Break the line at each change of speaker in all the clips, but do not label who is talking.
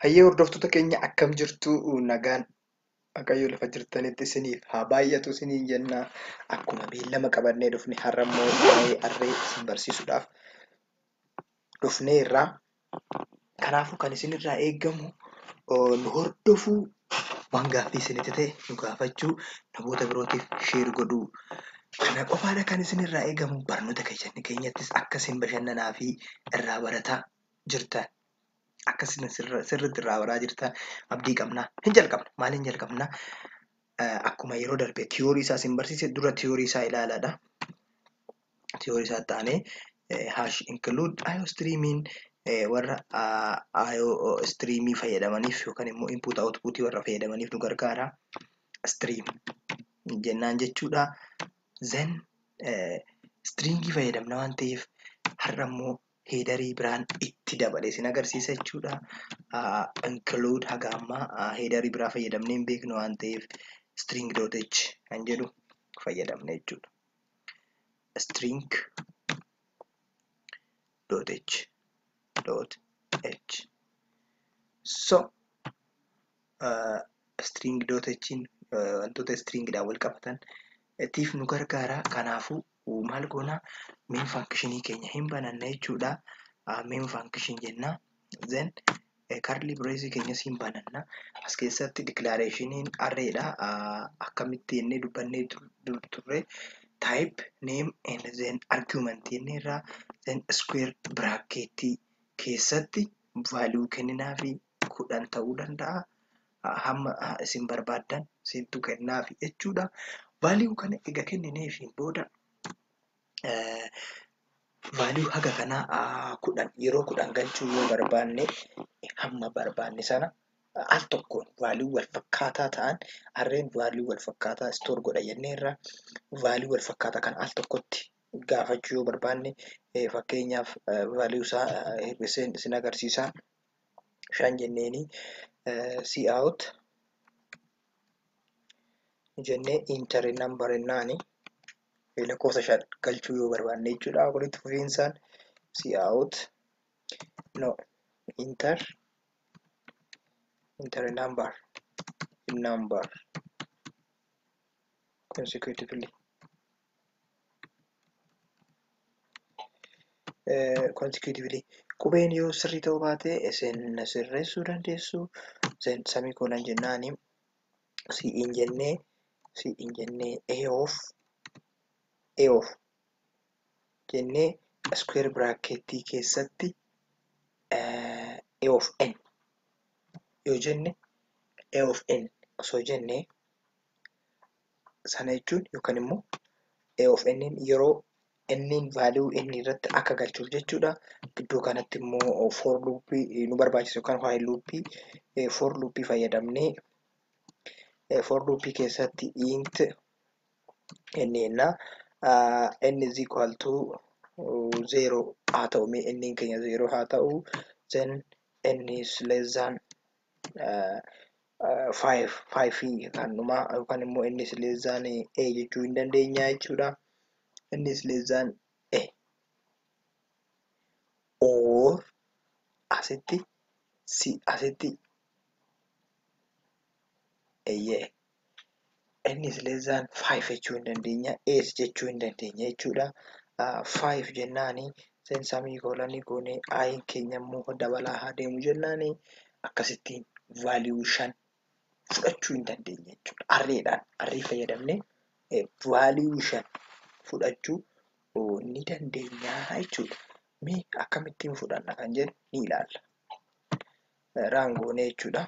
Hayyee hordoftoota keenya akkam jirtu nagaan Waaqayyo lafa jirtanitti isiniif haa baay'atu isiniin jenna. Akkuma beellama qabannee dhufne har'a immoo waa'ee harree isin barsiisuudhaaf dhufneerra. Kanaafuu kan isin irraa eegamu nu hordofuu, waan gaaffii isinitti ta'e nu gaafachuu, namoota birootiif share godhuu. Kana qofaadha kan isin irraa eegamu. Barnoota keessan keenyattis akka isin bashannanaa fi irraa barataa jirtan, akka isin sirriitti irraa baraa jirtan abdii qabna. Hin jalqabna. Maaliin jalqabna? Akkuma yeroo darbe theory isaa isin barsiise dura theory isaa ilaalaadha. theory isaa itti aanee eh, hash include IO streaming eh, warra ah, IO streamii fayyadamaniif yookaan immoo input output warra fayyadamaniif nu gargaara stream jennaan jechuudha then eh, stringii fayyadamna waan ta'eef har'a immoo heedarii biraan itti dabale isin agarsiisa jechuudha Ah, include haga ammaa ah, heedarii biraa fayyadamnee hin beeknu waan ta'eef string.h kan jedhu fayyadamne jechuudha string dot h dot h so uh, string dot h in uh, wantoota string dhaan wal qabatan tiif nu gargaara kanaafuu maal goona main function keenya hin bananna jechuudha uh, main function jenna then karlii bireezii keenya siin bananna as keessatti diklaareeshiniin arreedha akkamitti inni dubbannee turre taayip neem and then argument inni irraa then iskuweer biraakkeettii keessatti vaaluu kenninaa fi kudhan ta'uu danda'a hamma isin barbaaddan siintu kennaa fi jechuudha vaaluu kana ega kenninee fi booda value haga kanaa kudhan yeroo kudhan galchuu yoo barbaanne hamma barbaanne sana al tokkoon value wal fakkaataa ta'an arreen value wal fakkaataa store godha jennee irraa value wal fakkaataa kan al tokkotti gaafachuu yoo barbaanne fakkeenyaaf value isaa hir'iseen isin agarsiisaa shan jenneeni see out jennee inter nan barennaani lakkoofsa shan galchuu yoo barbaanne jechuudha walitti fufiinsaan si'aawut no inter inter number number consecutively consecutively qubeen yoo sirrii ta'uu baate isin na sirreessuu dandeessu then samii koolan jennaani si hin jennee si hin jennee a of a of jennee square bracketii keessatti eh, a of n yoo jenne a of n osoo jenne sana jechuun yookaan immoo A of n yeroo n value n irratti akka galchuuf jechuudha. Gidduu kanatti immoo for loop nu barbaachisa yookaan while loop for loop fayyadamnee for loop keessatti int n jenna n is equal to zero haa ta'u mee n keenya zero haa ta'u then n is less than 5 5 kan dhumaa yookaan immoo inni sileessaan a jechuu hin dandeenya jechuudha. Inni sileessaan a or asitti si asitti eeyyee n is less than 5 jechuu hin dandeenya 8 jechuu hin dandeenya jechuudha 5 jennaani sen samii koolanii goonee ayin keenya immoo dabalaa haa deemu jennaani akkasittiin vaaliyuu 5 fudhachuu hin dandeenya jechuudha arreedhaan arrii fayyadamne vaaliyuu 5 fudhachuu ni dandeenya jechuudha mee akkamittiin fudhanna kan jedhu ni ilaalla raangoonee jechuudha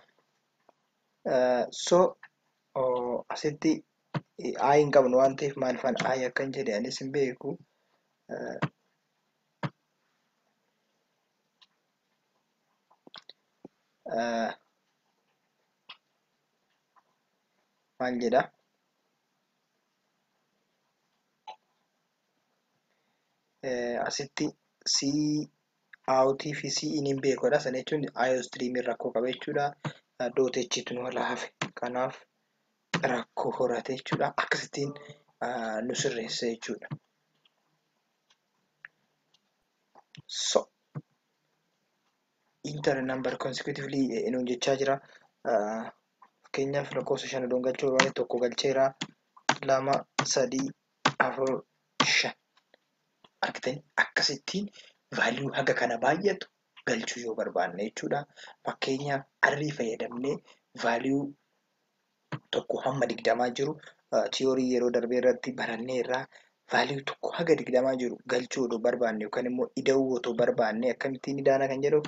so asitti ayi hin qabnu waan ta'eef maalifan ayi akkan jedhe anis hin beeku maal jedha asitti si Auti fi si in hin beekodha sana jechuun IO stream rakkoo qaba jechuudha. Dot H tu nu hala hafe kanaaf rakkoo horate jechuudha. Akkasittiin nu sirreessa jechuudha. So inter number consecutively nuun jechaa jira. Fakkeenyaaf lakkoofsa shan odoon galchuu barbaade tokko galcheera lama sadii afur shan. Argitanii? Akkasittiin value haga kana baay'atu galchuu yoo barbaanne jechuudha. Fakkeenya arrii fayyadamnee value tokko hamma digdamaa jiru theory yeroo darbee irratti barannee irraa value tokko haga digdamaa jiru galchuu odoo barbaanne yookaan immoo ida'uu otoo barbaanne akkamittiin idaana kan jedhuuf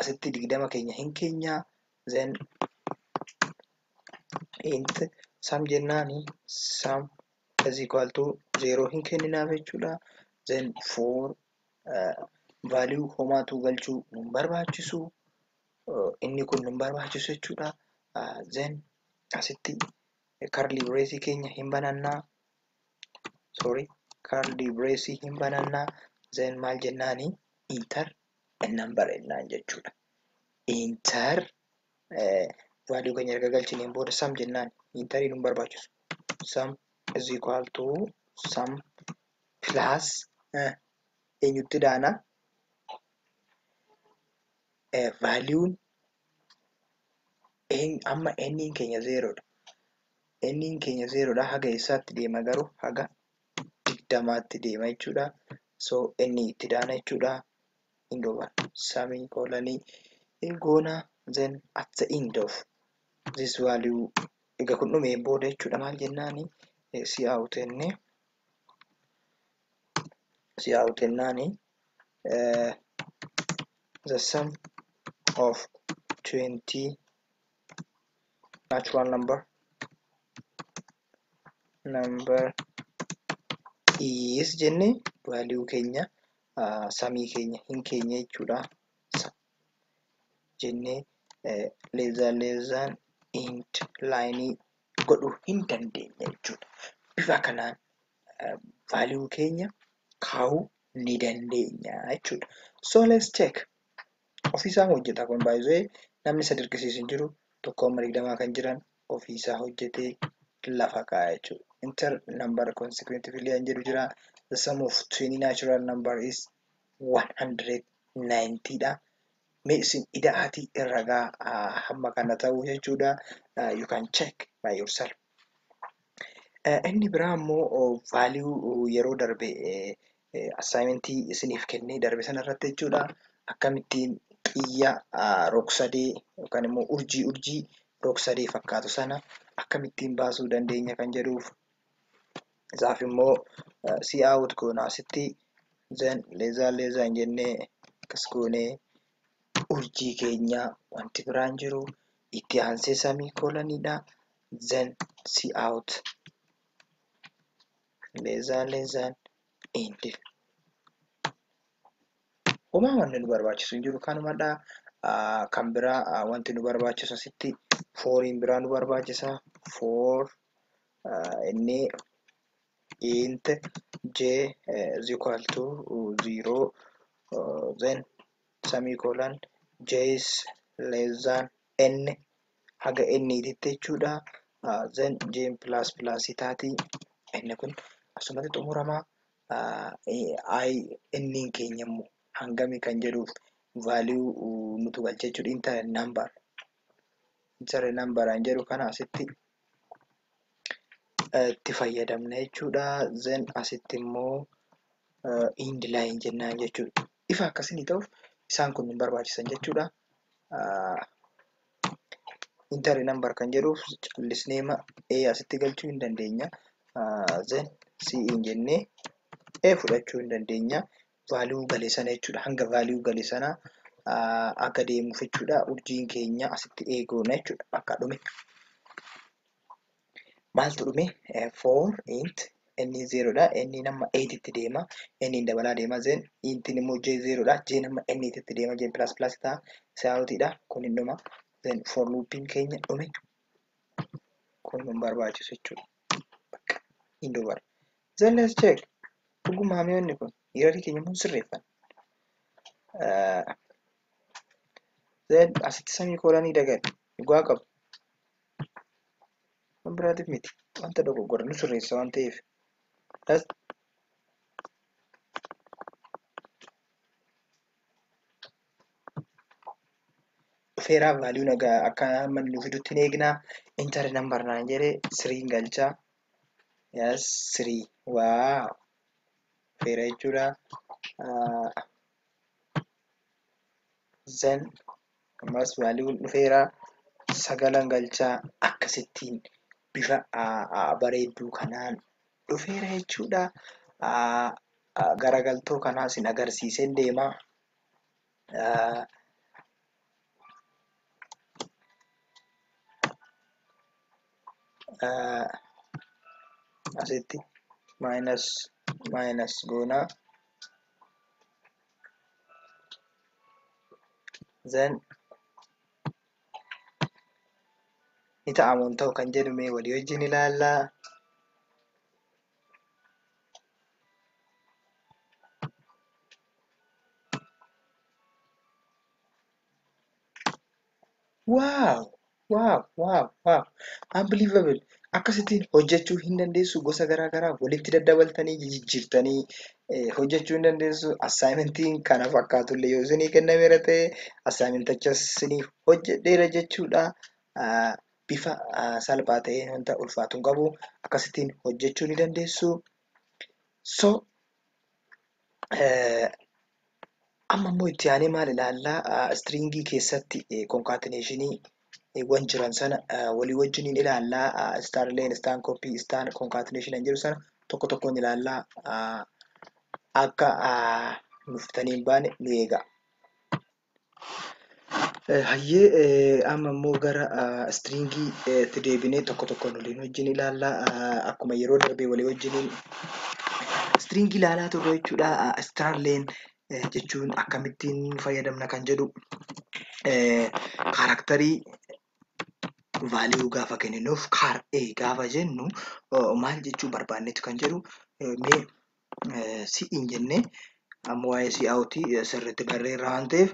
asitti digdama keenya hin keenya then int sum jennaani sum is equal to 0 hin kenninaaf jechuudha. Then for uh, value homaatu galchuu nun barbaachisu uh, inni kun nun barbaachisu jechuudha. Uh, then asitti curly brace keenya hin banannaa sorry curly brace hin banannaa then maal jennaani enter a number jennaan jechuudha. Enter value keenya erga galchineen booda sum jennaan interii nun barbaachisu sum is equal to sum plus eenyutti daana valuun amma enniin keenya zeeroodha enniin keenya zeeroodha haga eessaatti deema garuu haga digdamaatti deema jechuudha so inni itti daana jechuudha hin goona samii koolanii hin goona then at the end of this value ega kun dhume booda jechuudha maal jennaani si aawutenne si aawutennaani the sum of 20 natural number number is jenne value keenya samii keenya hin keenya jechuudha jenne leezaa leezaan int laayinii godhuu hin dandeenye jechuudha bifa kanaan value keenya kaa'uu ni dandeenya jechuudha so let's check ofiisaan hojjeta kun baay'ee namni isa dirqisiisu hin jiru tokko amma digdamaa kan jiran ofiisaa hojjetee lafa kaa'a jechuudha. Enter number consecutively an jedhu jira. The sum of 20 natural number is 190 dha. Mee isin ida'aatii ragaa ah, hamma kana ta'u jechuudha. Ah, You can check by yourself. Eh, Inni biraa immoo oh, value oh, yeroo darbe eh, Assaayimentii isiniif kennee darbe sana irratti jechuudha. Akkamittiin xiyya rog-sadee yookaan immoo urjii urjii rog-sadee fakkaatu sana akkamittiin baasuu dandeenya kan jedhuuf isaaf immoo si out goona asitti zan leezaa leezaa hin jennee akkas goonee urjii keenya wanti biraan jiru itti aansee samii koolaniidha zan si out Leezaan leezaan indi. Homaa wanni nu barbaachisu hin jiru kanumadha. Kan biraa wanti nu barbaachisu asitti fooriin biraa nu barbaachisa. Foor inni int j is equal to zero then semicolon j is less than n haga n titti jechuudha then j plus plus taati n kun asumatti xumurama i n keenya immoo hangami kan jedhuuf value nutu galcha jechuudha inter number inter number an jedhu kana asitti itti fayyadamna jechuudha then asitti immoo end line jennaan jechuudha ifa akka isinii ta'uuf isaan kun hin barbaachisan jechuudha. Intari nambar kan jedhuuf callisneema A asitti galchuu hin dandeenya. Zen C hin jennee A fudhachuu hin dandeenya. Vaaliyuu gale sana jechuudha. Hanga vaaliyuu gale sana akka deemuuf jechuudha. Urjiin keenya asitti A goona jechuudha. Bakka dhume. maaltu dhume 4 int n zeeroodha n nama 8 itti deema n hin dabalaa deema zen intin immoo j zeeroodha j nama n itti deema j plus plus ta'a saawutiidha kun hin dhuma zen for loopiin keenya dhume kun hin barbaachisu jechuudha bakka hin dubara zen let's check dhuguma hamiyoonni kun yerorii keenya immoo sirreeffan zen asitti samii koolanii dagadhe dhugaa qabu waan biraatiif miti wanta dogoggora nu sirreessa waan ta'eef das dhufeeraa vaaliyuu nagaa akka amma nu fidutti hin eegnaa intar nambar naan jedhee siriin galchaa yes sirii waa dhufeera jechuudha zan Ammaas value'n dhufeera. Sagalan galcha. Akkasittiin bifa bareedduu kanaan dhufeera jechuudha. Garagaltoo kanaa isin agarsiiseen deema. Asitti minus minus goona. then ni ta'amu hin ta'u kan jedhu mee walii wajjin ilaalla. Wow! Wow! Wow! Wow! Unbelievable! Akkasittiin hojjechuu hin dandeessu gosa garaa garaa walitti daddabaltanii jijjiirtanii eh, hojjechuu hin dandeessu. Assaayimentiin kana fakkaatu illee yoo isinii kennameera ta'e assaayimentichas isiniif hojjedheera jechuudha. Ah, Bifa ah, salphaa ta'een wanta ulfaatu hin qabu. Akkasittiin hojjechuu ni dandeessu. So amma immoo itti aanee maal ilaallaa? Istiriingii keessatti konkaateneeshiniiwwan jiran sana walii wajjin hin ilaallaa. Istaanleen, istaan koppii, istaan konkaateneeshin hin jiru sana tokko tokkoon ilaallaa. Akka nuuf fitanii hin baane nu eegaa. Hayyee amma immoo gara istiriingiitti deebinee tokko tokkoon waliin wajjin ilaalla. Akkuma yeroo darbee walii wajjiniin istiriingii ilaalaa turre jechuudha. Istiraalleen jechuun akkamittiin fayyadamna kan jedhu kaaraktarii vaaliyuu gaafa kenninuuf kaar A gaafa jennu maal jechuu barbaannetu kan jedhu mee si'iin jennee amma waa'ee si'aawuti sirriitti barreerra waan ta'eef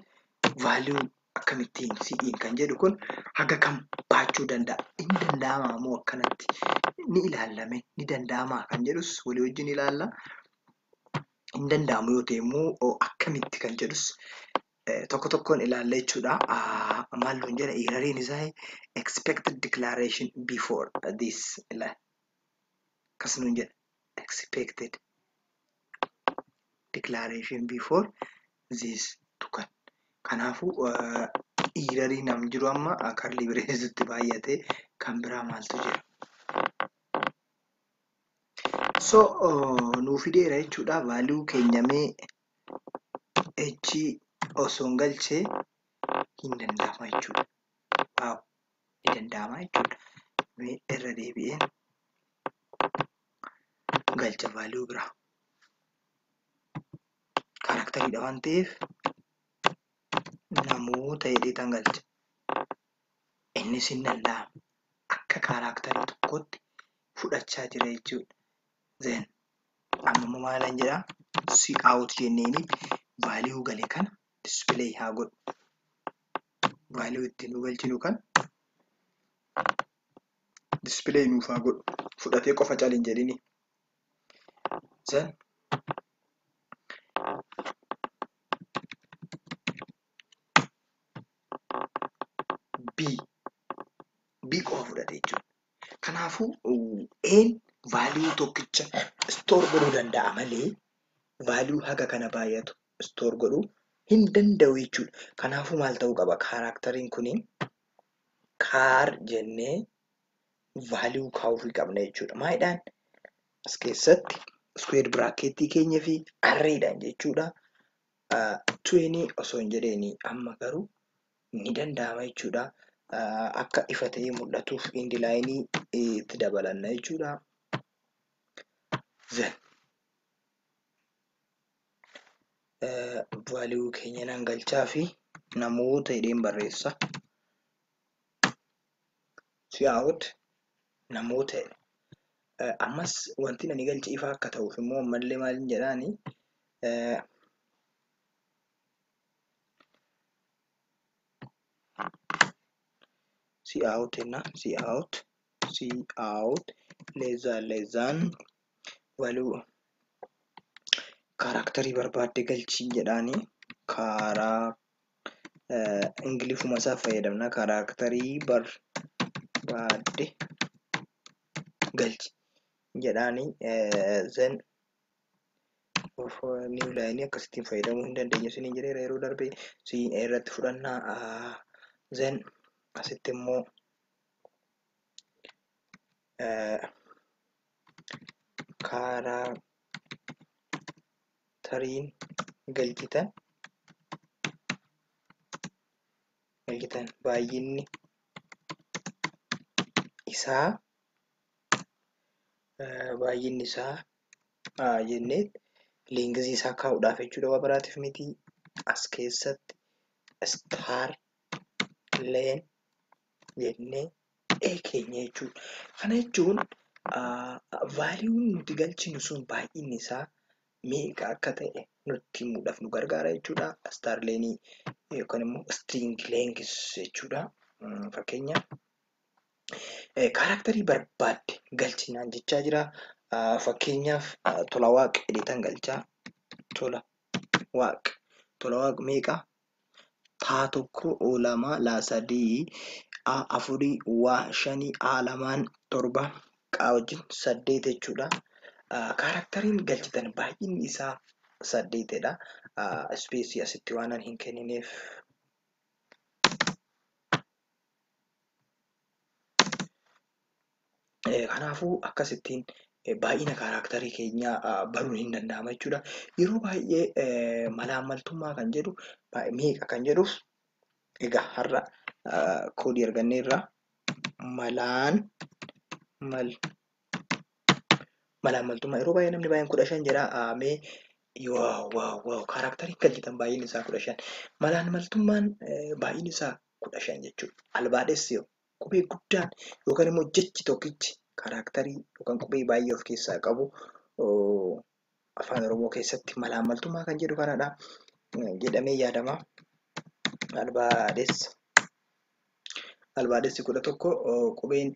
vaaliyuu akkamittiin si'iin kan jedhu kun haga kam baachuu danda'a inni danda'amaa moo akkanatti ni ilaallame ni danda'amaa kan jedhus walii wajjin ilaalla hin danda'amu yoo ta'e immoo akkamitti kan jedhus tokko tokkoon ilaalla jechuudha maal nuun jedha eerariin isaa expected declaration before this akkas nuun jedha expected declaration before this tukan kanaafuu iirarii nam jiru amma karlii bireesutti baay'ate kan biraa maaltu jira so nuu fideera jechuudha vaaluu keenyamee echi osoon galchee hin danda'ama jechuudha ni danda'ama jechuudha. Mee irra deebi'ee galcha value biraa. Karaktariidha waan ta'eef namoota jedhee tan galcha. Innis hin danda'ama. Akka karaktarii tokkotti fudhachaa jira jechuudha. Then amma immoo maalan jedhaa si out jenneeni value gale kana display haa godhu. value itti nu galchinu kan display nuuf haa godhu fudhatee qofa cal hin jedhini zan b b qofa fudhate jechuudha kanaafuu een value tokkicha store godhuu danda'a malee value haga kana baay'atu store godhuu hin danda'u jechuudha. Kanaafuu maal ta'uu qaba? Kaaraakteriin kuni kaar jennee value kaa'uufii qabna jechuudha. Maalidhaan? As keessatti square bracket keenya fi arreedhaan jechuudha. Uh, 20 osoo hin jedheeni amma garuu ni danda'ama jechuudha. Uh, akka ifa ta'ee mul'atuuf indi laayinii itti dabalanna jechuudha. Then value keenya nan galchaa fi namoota jedheen barreessa cout namoota jedhe ammas wanti ani galche ifaa akka ta'uuf immoo ammallee maal jedhaani cout jenna cout cout less than less than value kaaraaktarii barbaadde galchii jedhaanii kaaraa ingilifuma isaa fayyadamna kaaraaktarii barbaadde galchi jedhaanii zen of new line akkasittiin fayyadamuu hin dandeenyu isin jedheera yeroo darbe siin irratti fudhannaa zen asitti immoo kaaraakteriin galchitan galchitan baay'inni isaa baay'inni isaa jennee liingizii isaa kaa'uudhaaf jechuudha waa biraatiif miti as keessatti star leen jennee keenya jechuudha. Kana jechuun vaaliiwuun nuti galchinu sun baay'inni isaa meeqa akka ta'e nutti himuudhaaf nu gargaara jechuudha. Star leenii yookaan immoo string length jechuudha. Fakkeenya kaaraaktarii barbaadde galchinaan jechaa jira. Fakkeenyaaf tola waaq jedheetan galchaa tola waaq tola waaq meeqa taa tokko o lama laa sadii a afurii waa shanii a lamaan torba qaa wajjin saddeet jechuudha. Kaaraktariin galchitan baay'inni isaa saddeetidha. Ispeesii asitti waanan hin kennineef. Kanaafuu akkasittiin baay'ina kaaraaktarii keenyaa baruun hin danda'ama jechuudha. Yeroo baay'ee malaammaltummaa kan jedhu meeqa kan jedhuuf egaa har'a koodii argannee irraa malaan mal malaammaltummaa yeroo baay'ee namni baay'een kudha shan jedha mee waaw waaw waaw kaaraaktarii galchitan baay'inni isaa kudha shan malaammaltummaan baay'inni isaa kudha shan jechuudha albaadhessi yoo Qubee guddaan yookaan immoo jechi tokkichi karaaktarii yookaan qubee baay'ee of keessaa qabu afaan Oromoo keessatti malaammaltummaa kan jedhu kanadha jedhamee yaadama. Albaadessa. Albaadessi kudha tokko qubeen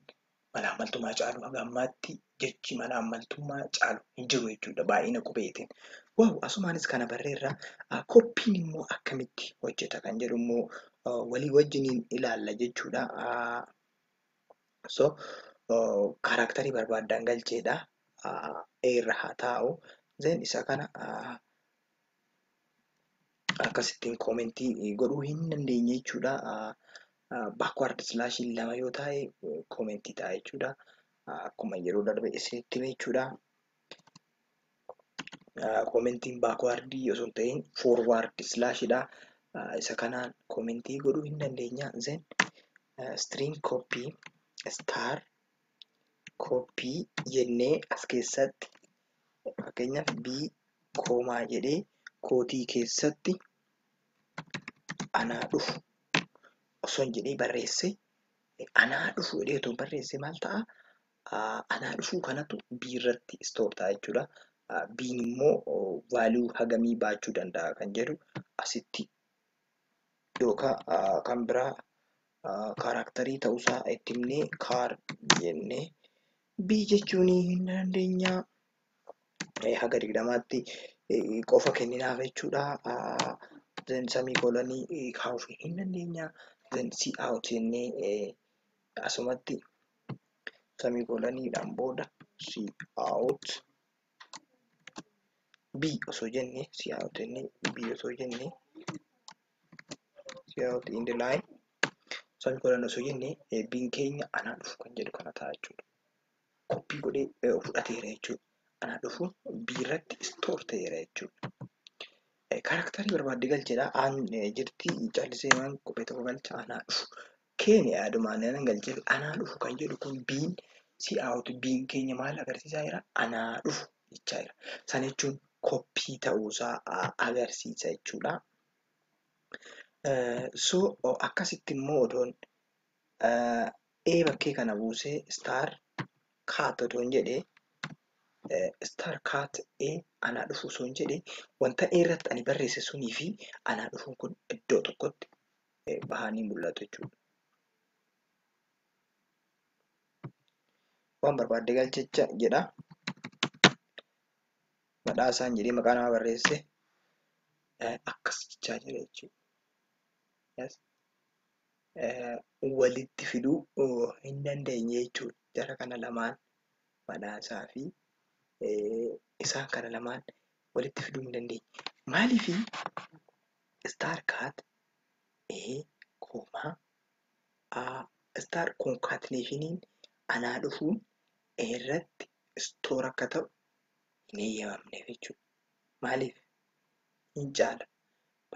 malaammaltummaa caalu haga ammaatti jechi malaammaltummaa caalu hin jiru jechuudha baay'ina qubeetiin. Waaw asumaanis kana barreerra koppiin immoo akkamitti hojjeta kan jedhu immoo walii wajjiniin ilaalla jechuudha. So kaaraaktarii barbaaddaan galcheedha. A irra haa taa'u. Zeen isa kana akkasittiin koomentii godhuu hin dandeenye jechuudha. Backward slash lama yoo taa'e koomentii ta'a jechuudha. Akkuma yeroo darbe isinitti hime jechuudha. Koomentiin backward osoo hin ta'in forward slash dha. Isa kanaan koomentii godhuu hin dandeenya. Zen string copy star copy jennee as keessatti Fakkeenyaaf B koomaa jedhee kootii keessatti anaa dhufu osoon jedhee barreesse anaa dhufu jedhee otoo barreesse maal ta'a? Anaa dhufuu kanatu B irratti istoor ta'a jechuudha. B'n immoo vaaluu hagamii baachuu danda'a kan jedhu asitti yookaan kan biraa kaaraaktarii ta'uusaa itti himnee kaar jennee B jechuun hin dandeenya haga digdamaatti qofa kenninaaf jechuudha. Then samii koolanii kaa'uuf hin dandeenya. Then C out jennee asumatti samii koolaniidhaan booda C out B osoo jennee C out jennee B osoo jennee Siyaawuti indi laay san godhan osoo jenne eebbiin keenya anaa dhufu kan jedhu kana ta'a jechuudha. Koppii godhee eh, fudhateera jechuudha. Anaa dhufu biirratti istoor ta'eera jechuudha. Eh, Kaaraaktarii barbaadde galcheedha. Aan eh, jirti callisee waan kophee tokko galcha anaa dhufu. Keenya yaadumaan nan galcheef anaa dhufu kan jedhu kun biin si out biin keenya maal agarsiisaa jira anaa dhufu jechaa jira sana jechuun koppii ta'uusaa agarsiisa jechuudha so akkasitti immoo odoon ee bakkee kana buusee star kaat odoon jedhe star kaat ee anaa dhufu osoon jedhe wanta ee irratti ani barreesse sunii fi anaa dhufuun kun iddoo tokkotti bahanii mul'atu jechuudha. Waan barbaadde galchicha jedha. Badhaasaan jedhee maqaa namaa barreesse akkas jechaa jira jechuudha. Walitti fiduu hin dandeenye jechuudha. Jara kana lamaan badhaasaa fi isaan kana lamaan walitti fiduu hin dandeenye. Maaliif Star cat A kooma A star concatenationiin anaa dhufuun A irratti store akka ta'u hin eeyyamamneef jechuudha. Maaliif? Hin caala.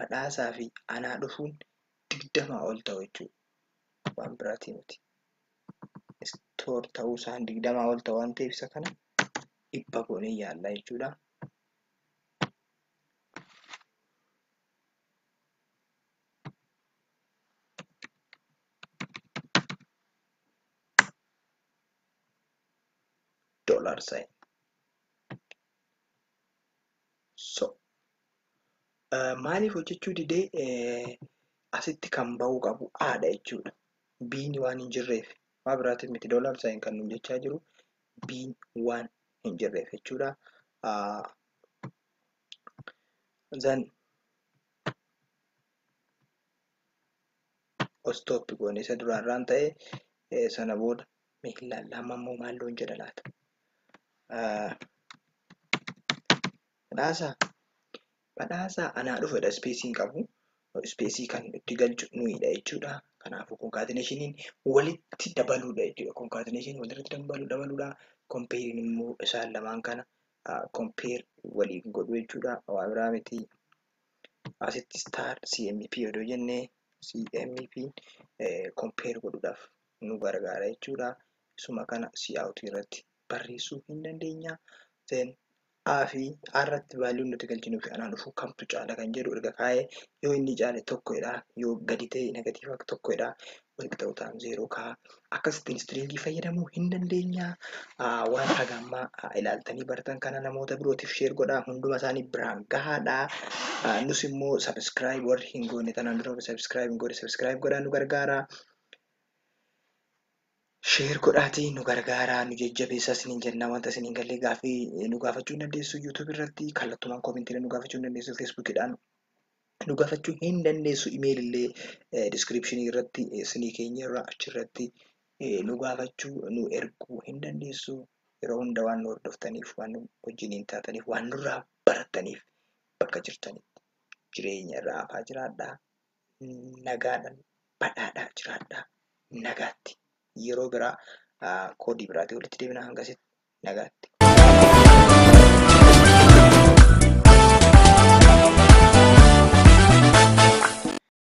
Badhaasaa fi anaa dhufuun digdamaa ol ta'u jechuudha. Waan biraatii miti. Store ta'uu isaan digdamaa ol ta'u waan ta'eef isa kana dhibba goonee yaalla jechuudha. dollar sign so maaliif hojjechuu didee asitti kan ba'uu qabu aadha jechuudha biin waan hin jirreef maa biraatiif miti dollar sign kan nuun jechaa jiru biin waan hin jirreef jechuudha then stop goone isa duraan raan ta'e sana booda mee hin laalla amma immoo maal loon jedha laata badhaasa badhaasa anaa dhufedha ispeesii hin qabu ispeesii kan itti galchu nuyidha jechuudha kanaafuu konkaatineeshiniin walitti dabaluudha jechuudha konkaatineeshin walirratti dabalu dabaluudha kompeeriin immoo isaan lamaan kana compare waliin godhu jechuudha waa biraa miti asitti star cmp odoo jenne cmp compare godhuudhaaf nu gargaara jechuudha isuma kana cout irratti barreessuu hin dandeenya then a fi a irratti vaaliyoon nuti galchinu fi anaan dhufuu kamtu caala kan jedhu erga kaa'ee yoo inni caale tokkodha yoo gadi ta'e negatiiva tokkodha walqixa utaan zeeroo kaa akkasittiin istiriingii fayyadamuu hin dandeenya waan haga ammaa ilaaltanii bartan kana namoota birootiif sheer godhaa hunduma isaanii biraan gahaadha nus immoo sabiskiraayib warri hin goone tanaan dura sabiskiraayib hin goone sabiskiraayib godhaa nu gargaara sheer godhaatii nu gargaaraa nu jajjabeessaa isiniin jennaa wanta isiniin gallee gaafii nu gaafachuu hin dandeessu yuutuubii irratti kallattumaan koomintiilee nu gaafachuu hin dandeessu feesbuukidhaan nu gafachuu hin dandeessu email illee description irratti isinii keenya irra achirratti nu gaafachuu nu erguu hin dandeessu yeroo hunda waan nu hordoftaniif waan nu wajjiniin taataniif waan nurraa barattaniif bakka jirtanitti jireenya irra afaa jiraadhaa nagaadhaan badhaadhaa jiraadhaa nagaatti yeroo biraa koodii biraatii walitti deebina hangasitti nagaatti.